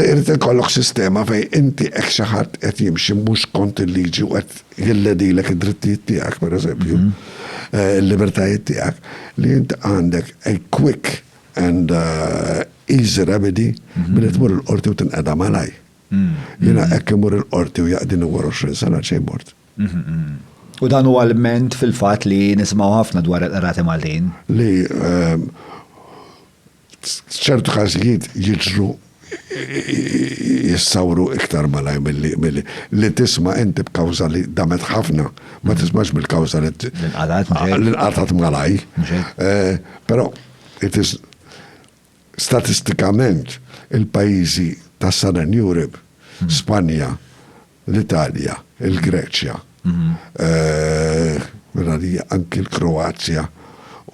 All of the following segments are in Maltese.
Irid ikollok sistema fejn inti hekk xi ħadd qed jimxi mhux kont il-liġi u qed jilledilek id-drittijiet tiegħek, pereżempju, eh, il-libertajiet tiegħek, li inti għandek a quick and uh, easy remedy mhm. billi tmur il-qorti u tinqeda malaj. Mhm. Jina mhm. ekk imur il-qorti u jaqdini war 20 sena xejn mort. U dan u għal-ment fil-fat li nismaw ħafna dwar il-qrati Maltin. Li ehm, F'ċertu każijiet jiġru jissawru iktar malaj milli li tisma' inti b'kawża li damet ħafna, ma tismax bil-kawża li nqatgħet malaj. Eh, però it is statistikament il-pajjiżi tas-Southern Europe, Spanja, l-Italja, il-Greċja, minn għalija anki l-Kroazja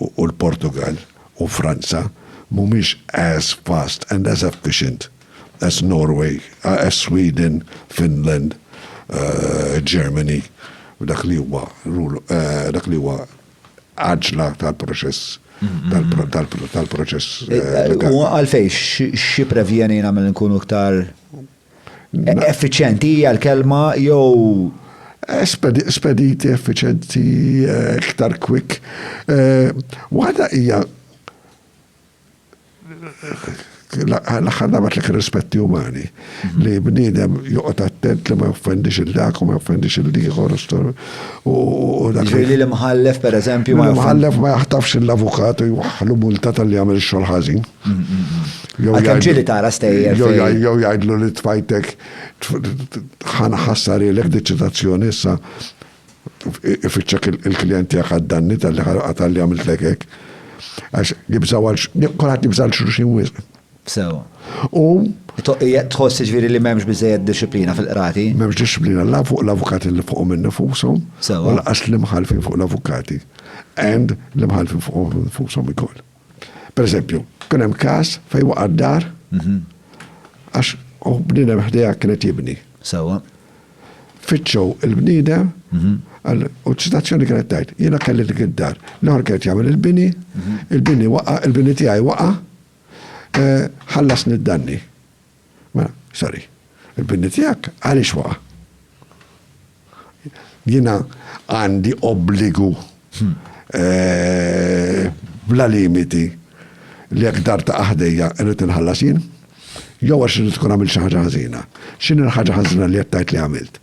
u l-Portugall u Franza mhumiex as fast and as efficient as Norway, as Sweden, Finland, Germany f'dak li huwa dak li huwa għaġla tal-proċess tal-proċess. U għalfejn, x'jipprevjenina milli nkunu iktar Effiċenti hija l-kelma jew eh, spediti, effiċenti, eh, iktar quick. Eh, waħda hija l-axħar dabat l-ek rispetti umani mhm. li bnidem joqgħod attent li ma joffendix il-dak u ma joffendix il-liħor u dak. Ġili li mħallef per eżempju. Mħallef ma jaħtafx l-avukat u jwaħlu multa tal-li għamil xol ħażin. Għalkemm ġieli tara stejjer. Jew jgħidlu li tfajtek ħana ħassarilek deċitazzjoni issa ifittxek il-klient tiegħek għad-danni tal-li għatalli għamiltlek hekk. Għax jibżaw għal kulħadd jibżal xulxin wisq. Sewa. U tħoss ġviri li memx bizzejed disciplina fil-qrati? Memx disciplina la fuq l-avukati li fuq minn nifusom, u laqas l-imħalfin fuq l-avukati, and l-imħalfin fuq nifusom ikoll. Per eżempju, kien hemm każ fejn waqa' d-dar mhm. għax u bniedem ħdejha kienet jibni. Sewwa. Fitxew il-bniedem mhm. u ċitazzjoni kienet tajt, jiena kelli dik id-dar. L-ħor kienet jagħmel il-bini, mhm. il-bini waqa, il-bini tiegħi waqa, eh, ħallasni d-danni. Ma, sorry, il-binni tijak għalix waqa? Jina għandi obbligu hmm. eh, bla limiti li jek dar ta' aħdejja irrit nħallas jien, jew għax irrit tkun għamil xaħġa ħazina. Xin il-ħagġa ħazina li jattajt li għamilt?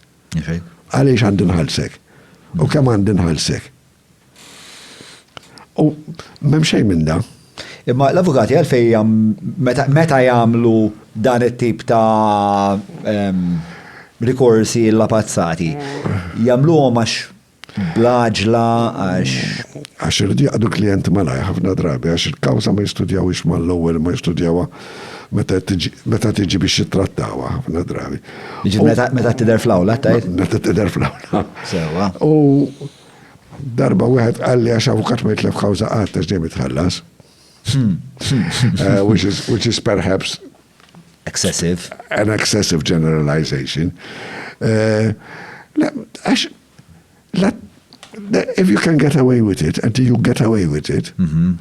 Għalix għandi nħalsek? U kem għandi nħalsek? U m'hemm xejn minn da. Imma l-avukati għalfejn meta jagħmlu dan it-tip ta' rikorsi l-apazzati, jagħmluhom għax blaġla għax. Għax irridu jaqdu klijent malaj ħafna drabi għax il-kawża ma jistudjawhiex mal-ewwel ma jistudjawha meta tiġi biex jittrattawha ħafna drabi. Meta tidher fl-awla tajt? Meta tidher fl-awla. Sewwa. Darba wieħed qalli għax avukat ma jitlef kawża qatt għax dejjem itħallas. which is which is perhaps excessive. An excessive generalization. Uh, għax if you can get away with it, and you get away with it, mhm.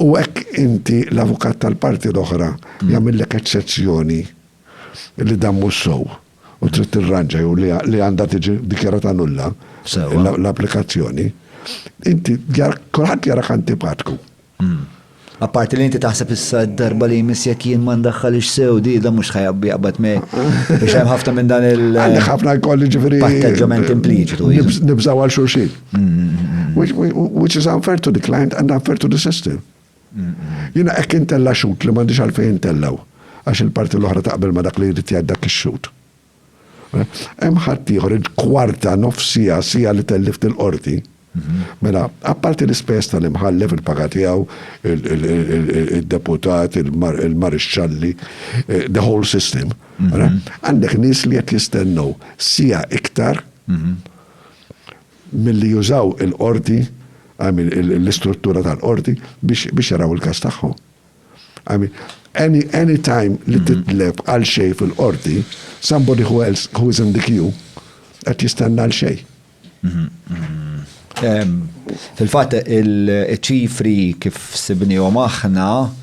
u hekk inti l-avukat tal-parti l-oħra mhm. jagħmillek eċċezzjoni li dan mhux sow. u trid tirranġa jew li għandha tiġi dikjarata nulla l-applikazzjoni, inti kulħadd jarak antipatku. Hmm. Apparti li inti taħseb issa d-darba li jmiss jekk jien ma ndaħħalix sew di da mhux ħajabbi qabad me. Biex hemm ħafna minn dan il- Għandek ħafna jkolli ġifieri. Patteġġament impliċitu. Nibżaw għal xulxin. Hmm, hmm, which is unfair to the client and unfair to the system. Jiena hekk intella' xhud li m'għandix għalfejn intellgħu għax il-parti l-oħra taqbel ma' dak li jrid jgħid dak ix-xhud. Hemm ħaddieħor il-kwarta, nofs siegħa, siegħa li tellift il-qorti. Mela, apparti l-ispejjeż tal-imħallef, il-paga tiegħu, id-deputat, il-marixxalli, eh, the whole system, għandek nies li qed jistennew siegħa iktar milli jużaw il-qorti, I mean l-istruttura tal-qorti, biex jaraw il-każ tagħhom. I mean, any, any time li mm-hmm. titleb għal xej fil-qorti, somebody who else who is in the queue qed jistenna għal xej. Mm-hmm. Mm-hmm. Fil-fatt il-ċifri kif sibnihom aħna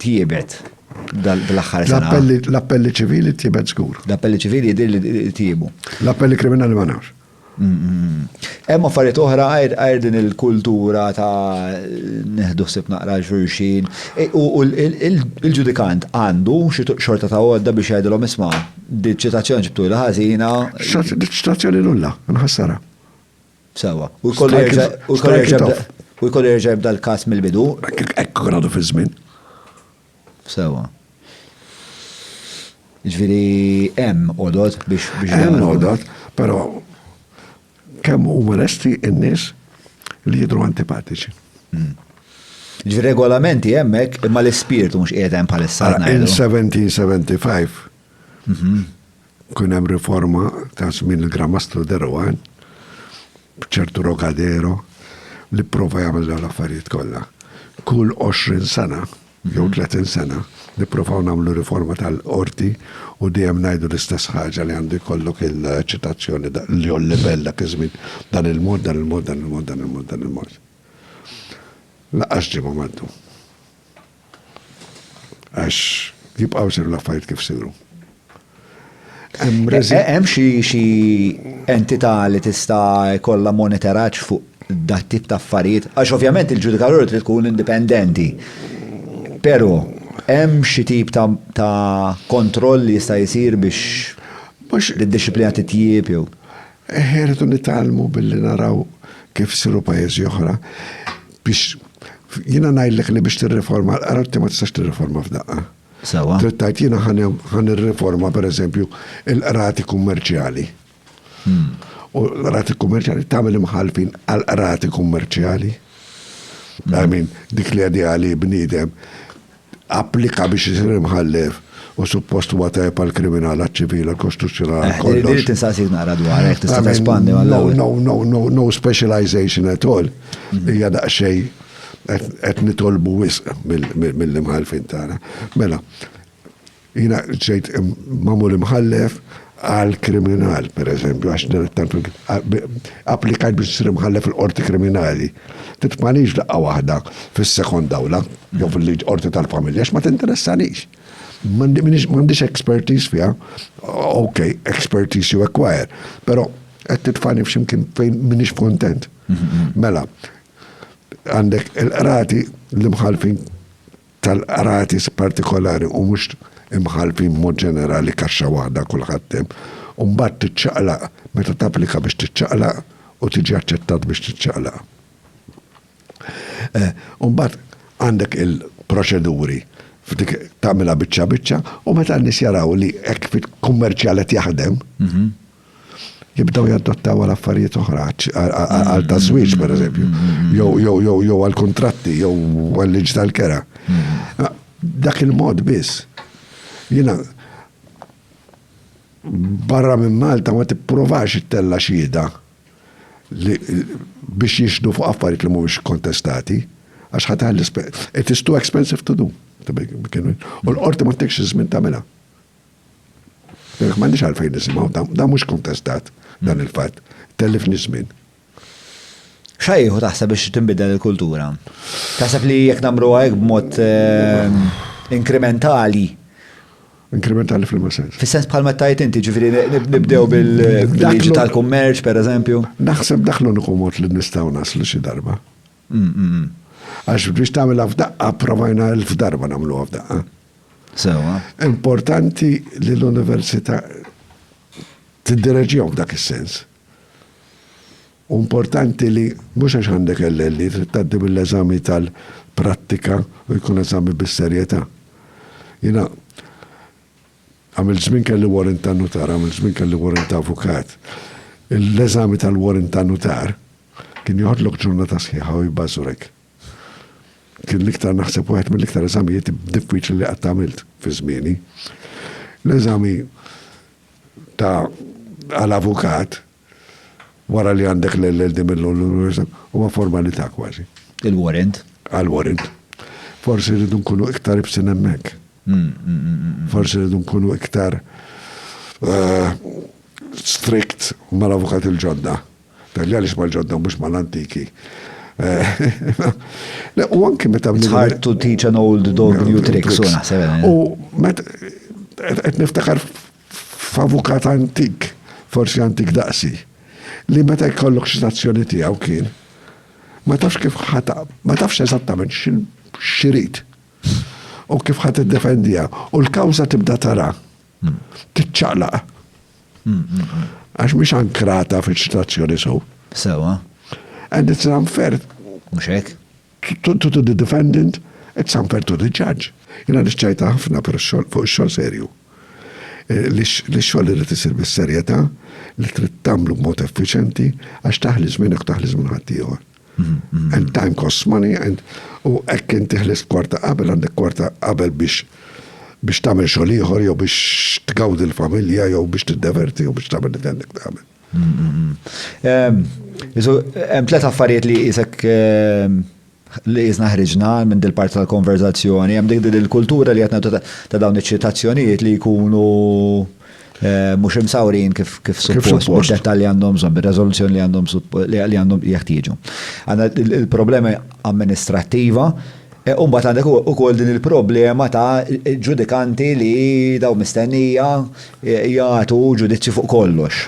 tjiebet dal-aħħar sena. L-appelli ċivili tjiebet żgur. L-appelli ċivili jidir li tjiebu. L-appelli kriminali ma nafx. Hemm affarijiet oħra għajr din il-kultura ta' neħdu ħsib naqra xulxin. E, u il-ġudikant għandu xi xorta ta' għodda biex jgħidilhom isma' diċitazzjoni ċitazzjoni ġibtu l-ħażina. Diċitazzjoni nulla, nħassara. Sewa. U jkollu jerġa' u jkollu jerġa' jibda- u jkollu jerġa' jibda l-każ mill-bidu. Hekk hekk kien għadu fiż-żmien. Sewa. Jiġifieri hemm għodod biex biex dan Hemm ikun- għodod, però kemm huma lesti n-nies li jidhru antipatiċi. Jiġifieri regolamenti hemmhekk imma l-ispirtu mhux qiegħed hemm bħalissa. Ara, in ngħidu. 1775 Kien hemm riforma ta' żmien il-Gramastru de Rohan, b'ċertu Rogadero, li prova jagħmel dawn l-affarijiet kollha. Kull 20 sena, jew 30 mhm. sena, nipprovaw nagħmlu riforma tal-qorti u dejjem ngħidu l-istess ħaġa li għandu jkollok il-ċitazzjoni li jol livell dak iż-żmien dan il-mod, dan il-mod, dan il-mod, dan il-mod, dan il-mod. Laqax ġimgħa maddu. Għax jibqaw seru l-affarijiet kif seru. Hemm xi entità li tista' jkollha monitoraġġ fuq dat tip ta' affarijiet? Għax ovvjament il-ġudikatur trid tkun indipendenti. Però hemm xi tip ta' kontroll li jista' jsir biex id-dixxiplina titjieb jew? Eħ, irridu nitgħallmu billi naraw kif siru pajjiżi oħra biex jiena ngħidlek li biex tirriforma l-qarti ma tistax tirriforma f'daqqa. Sewa. Trittajt jiena ħan irriforma pereżempju il-qrati kummerċjali. Hmm. U l-qrati kummerċjali tagħmel imħalfin għal qrati kummerċjali. Hmm. I mean, dik li għadija li bniedem applika biex isir imħallef u suppost huwa tajjeb għal kriminal għal ċivil għal kostituzzjonal għal eh, kollox. Irid insaqsik naqra dwar hekk tista' tespandi għal No, no, no, no specialization at all. Mhm. Hija daqsxejn qed nitolbu wisq mill-imħalfin tagħna. Mela, Jiena ġejt magħmul imħallef għal kriminal, per eżempju, għax applikajt biex nsir imħallef il-qorti kriminali. Titfalix daqqa waħda fis-sekond awla, jew fil-liġ qorti tal-familja, ma tinteressanix. M'għandix expertise fiha, ok, expertise you acquire, però qed titfani f'ximkien fejn minix kontent. Mela, għandek il-qrati l-imħalfin tal-qrati partikolari u mhux imħallfin b'mod ġenerali kaxxa waħda kulħadd hemm, u mbagħad tiċċaqlaq meta tapplika biex tiċċaqlaq u tiġi aċċettat biex tiċċaqlaq. U mbagħad għandek il-proċeduri f'dik tagħmilha biċċa biċċa u meta n-nies jaraw li hekk fit-kummerċjal qed jaħdem, jibdew jaddottaw għal affarijiet oħra, għal ta' żwieġ per eżempju, jew għal kontratti, jew għal liġ tal-kera. Dak il-mod biss. Jina, barra minn Malta ma tipprovax it-tella xhieda biex jixdu fuq affarijiet li mhumiex kontestati, għax ħatar l-ispet. It is too expensive to do. U l-qorti ma t-tekx iż-żmien tagħmilha. Jekk m'għandix għalfejn nisimgħu dan mhux kontestat dan il-fatt. Tellifni żmien. Xajħu taħseb biex tinbidel il-kultura? Taħseb li jekk namru għajk b'mod ehm, inkrementali? Inkrementali fil sens. Fis-sens bħal meta inti ġifiri nibdew bil-liġi tal-kummerċ, per eżempju. Naħseb daħlu l mod li nistaw naslu xi darba. Għax biex tagħmilha f'daqqa provajna elf darba nagħmluha f'daqqa. Sewa. Importanti li l-università tiddireġjom dak is-sens. U importanti li mhux għax għandek l-elli trid tgħaddi mill-eżami tal-prattika u jkun eżami bis-serjetà. Jiena Għamilt żmien kelli warrant ta' nutar, għamilt żmien kelli warrant ta' avukat. L-eżami tal-warrant ta' nutar kien joħodlok ġurnata sħiħa u jbażurek. Kien l-iktar naħseb wieħed mill-iktar eżamijiet diffiċli li qatt għamilt fi żmieni. L-eżami ta' għal-avukat Wara li għandek l-LLD mill-Università, huwa formalità kważi. Il-warrant? Għal-warrant. Forsi rridu nkunu iktar ibsin hemmhekk. Forsi rridu nkunu iktar eh, strict mal-avukat il-ġodda. Tal-li għalix mal-ġodda mux mal-antiki. Eh, u anki meta It's hard to teach an old dog new tricks, u naħseb. Eh. U meta qed niftakar f'avukat antik, forsi antik daqsi, li meta jkollok ċitazzjoni tiegħu kien ma tafx kif ħata, ma tafx eżattament xirid u kif ħat id-defendija u l-kawza tibda tara titċaqlaq. Għax mhix ankrata fiċ-ċitazzjoni sew. Sewa. And it's unfair. Mhux hekk? To the defendant, it's unfair to the judge. Jiena nixċajta ħafna fuq ix-xogħol serju. Li x-xogħol irid isir bis-serjetà, li trid tagħmlu b'mod effiċjenti għax taħli żmienek u taħli żmien ħaddieħor. And time costs money and u hekk inti ħlist kwarta qabel għandek kwarta qabel biex biex tagħmel xogħol ieħor jew biex tgawdi l-familja jew biex tiddeverti jew biex tagħmel li għandek tagħmel. Isu, hemm tliet affarijiet li jisek ehm, li jisna ħriġna minn dil parti tal-konverzazzjoni, hemm dik il-kultura li għatna ta' dawn iċ-ċitazzjonijiet li jkunu eh, mhux imsawrin kif kif suppost, mhux dettalji għandhom bżonn, bir-reżoluzzjoni li għandhom li għandhom jeħtieġu. Għandna il-problema amministrattiva U mbagħad għandek ukoll din il-problema ta' ġudikanti li daw mistennija jagħtu ġudizzju fuq kollox.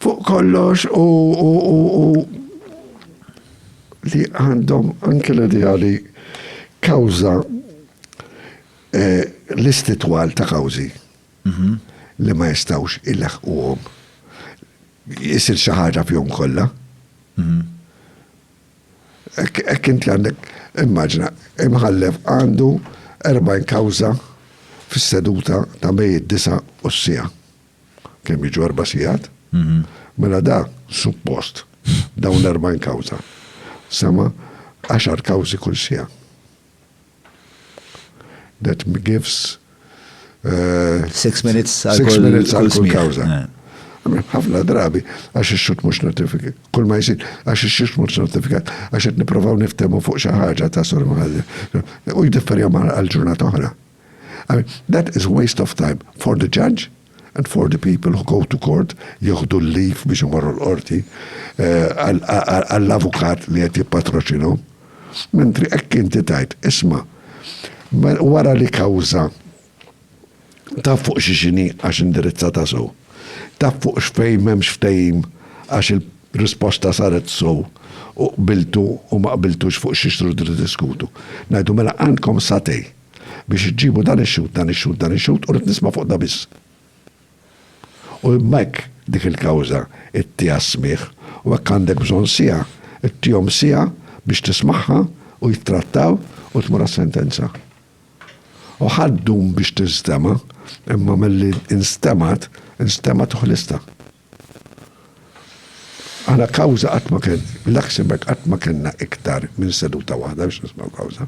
Fuq kollox u li għandhom anke l-idea li kawża eh, l-istitwal ta' kawżi mhm. li ma jistawx il-ħuqom jisir xaħġa fjom kollha. Mhm. Hekk inti għandek, immaġina, imħallef għandu 40 kawża fis-seduta ta' bejn id-disa' u s-siegħa. Kemm jiġu erba' sigħat? Mhm. Mela da suppost dawn l-40 kawża. Sema' għaxar kawżi kull siegħa. That gives uh, six minutes għal kull kawza. Ħafna drabi, għax ix-xut mux notifikat. Kull ma jisir, għax ix-xut mux notifikat, għax qed niprofaw niftemu fuq xi ħaġa ta' sormaħalli. U jidifferja ma' għal-ġurnata oħra. I mean, that is waste of time for the judge and for the people who go to court jieħdu l-leave biex imorru l-qorti eh, għall-avukat li qed jippatroċinu. Mentri hekk inti tajt, isma' wara li kawża taf fuq xi xini għax indirizzata sew. Taf fuq x'fejn m'hemmx ftehim għax il-risposta saret sew u qbiltu u ma qbiltux fuq xi xtrudu diskutu. Ngħidu mela għandkom satej Biex iġġibu dan ix-xhud, dan ix-xhud, dan ix-xhud, u rrid nisma' fuq da biss. U imma hekk dik il-kawża ittiha s-smigħ, u hekk għandek bżonn siegħa, ittihom siegħa biex tismagħha u jittrattaw u tmur għas-sentenza. U ħa ddum biex tinstema', imma milli instemgħet, instemgħet u ħlistha. Aħna kawża qatt ma kien, Luxembourg qatt ma kellna iktar minn seduta waħda biex nismgħu kawża.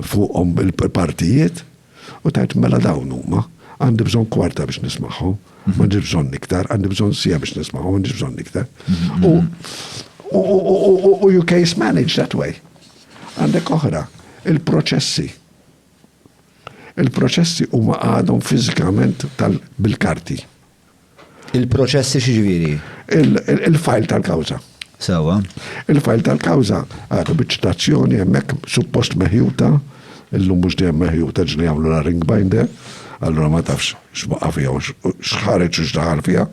fuqhom il-partijiet u tgħid mela dawn huma, għandi bżonn kwarta biex nismagħhom, m'għandix bżonn iktar, għandi bżonn siegħa biex nismagħhom, m'għandix bżonn iktar. U you case manage that way. Għandek oħra, il-proċessi. Il-proċessi huma għadhom fiżikament tal-bil-karti. Il-proċessi x'ġifieri? Il-fajl tal-kawża. Sewa. Il-fajl tal-kawża għadu biċ-ċitazzjoni hemmhekk suppost meħjuta, illum mhux dejjem meħjuta ġli jagħmlu la ring binder, allura ma tafx x'baqa' fiha u x'ħareġ u x'daħal fiha.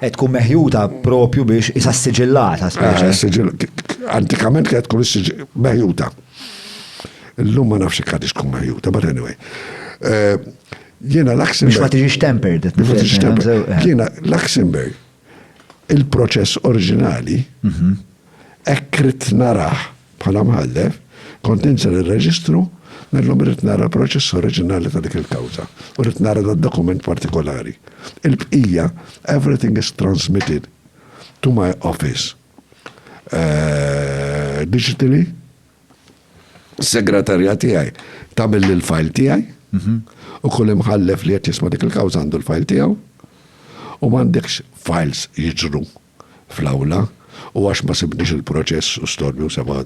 Qed tkun meħjuta propju biex isa siġillata speċi. Antikament kienet tkun meħjuta. Illum ma nafx ikħadix tkun meħjuta, but anyway. Jiena Luxemburg. Biex ma tiġix tempered. Biex ma tiġix tempered. Eh. Jiena Luxemburg, il-proċess oriġinali, mhm. hekk rid naraħ bħala mħallef, kont inser ir-reġistru, Nellum rrit nara proċess oriġinali ta' dik il-kawza u rrit nara da' dokument partikolari. Il-bqija, everything is transmitted to my office uh, digitally Is-segretarja tiegħi tagħmilli l-fajl tiegħi mhm. u kull imħallef li qed jisma' dik il-kawża għandu l-fajl tiegħu u m'għandekx files jiġru fl-awla u għax ma sibniex il-proċess u storju sema'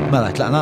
Mela, tlaqna?